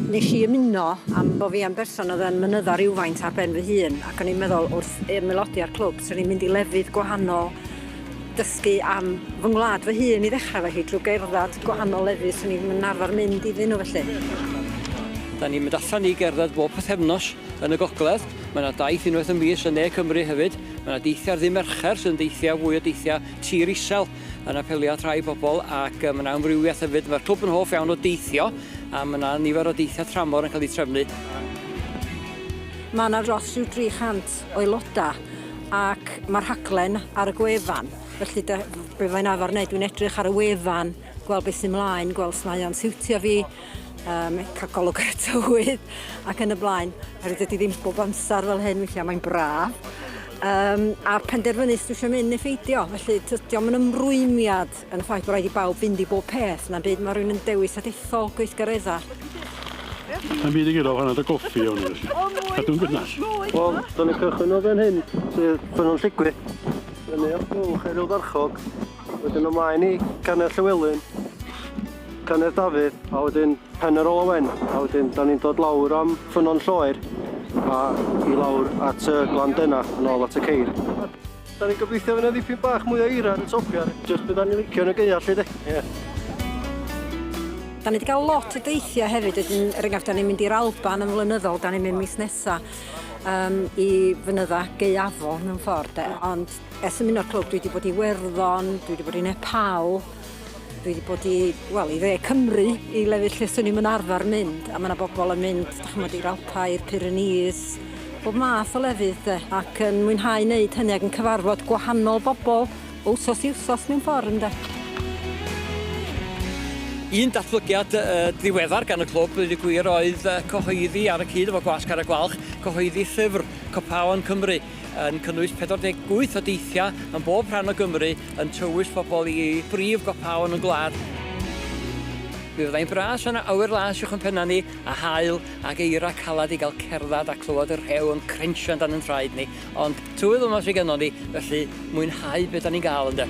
Nes i ymuno am bo fi yn berson oedd yn mynyddo rhywfaint ar ben fy hun ac o'n i'n meddwl wrth ymaelodi â'r clwb swn i'n mynd i lefydd gwahanol dysgu am fy ngwlad fy hun i ddechrau felly drwy gerdded gwahanol lefydd swn i'n arfer mynd iddyn nhw felly. Da ni'n mynd allan i gerdded bob pythefnos. Yn y gogledd, mae 'na daith unwaith y mis yn ne Cymru hefyd. Mae 'na deithiau ddydd Mercher sy'n deithiau fwy o deithiau tir isel yn apelio at rai pobl ac mae 'na amrywiaeth hefyd. Mae'r clwb yn hoff iawn o deithio a mae 'na nifer o deithiau tramor yn cael eu trefnu. Mae 'na dros rhyw 300 o aelodau ac mae'r rhaglen ar y gwefan felly be' fyddai'n arfer neud dwi'n edrych ar y wefan gweld beth sy'n mlaen gweld os mae o'n siwtio fi um, cael golwg ar y tywydd ac yn y blaen. Herwydd ydy ddim bob amser fel hyn, weithiau mae'n braf. Um, a penderfynu sydd eisiau mynd neu ffeidio. Felly, diolch yn ymrwymiad yn y ffaith bod rhaid i bawb fynd i bob peth. Na byd mae rhywun yn dewis a dethol gweithgareddau. Mae'n byd i gyda'r hanner y goffi o'n i felly. A dwi'n gynnas. Wel, dyna cychwyn o fan hyn, sydd pan o'n lligwydd. Dyna o'ch bwch ar y farchog. Wedyn ymlaen i Canedd Llywelyn, Canedd Dafydd a wedyn Pen yr Ola Wen a wedyn da ni'n dod lawr am Ffynnon Lloer a i lawr at y Glan Dena yn ôl at y ceir. Da ni'n gobeithio fydd yna ddipyn bach mwy o eira ar y topiau, jyst beth da ni'n licio yn y gaeau 'lly de. Yeah. Da ni wedi cael lot o deithiau hefyd, wedyn, er enghraifft, da ni'n mynd i'r Alban yn flynyddol, da ni'n mynd mis nesa um, i fynydda gaeafol mewn ffordd, de. ond Ers y muno'r clwb dwi wedi bod i Werddon, dwi wedi bod i Nepal, dwi wedi bod i, wel, i dde Cymru, i lefydd lle swn i'n yn arfer mynd, a mae yna bobl yn mynd, da chi'n mynd i'r Alpau, i'r Pyrenees, bob math o lefydd de, ac yn mwynhau wneud hynny ac yn cyfarfod gwahanol bobl o wsos i wsos mewn ffordd ynde. Un datblygiad uh, ddiweddar gan y clwb, wedi gwir, oedd uh, cyhoeddi ar y cyd efo Gwas Cara Gwalch, cyhoeddi llyfr Copaon Cymru, yn cynnwys 48 o deithiau yn bob rhan o Gymru yn tywys pobl i brif gopaon y gwlad. Mi fyddai'n bras yna awyr las uwch yn pennau ni, a haul ac eira calad i gael cerdded a clywed y rhew yn crensio yn dan yn traed ni, ond tywydd yma sydd gennon ni, felly mwynhau beth da ni'n gael ynde.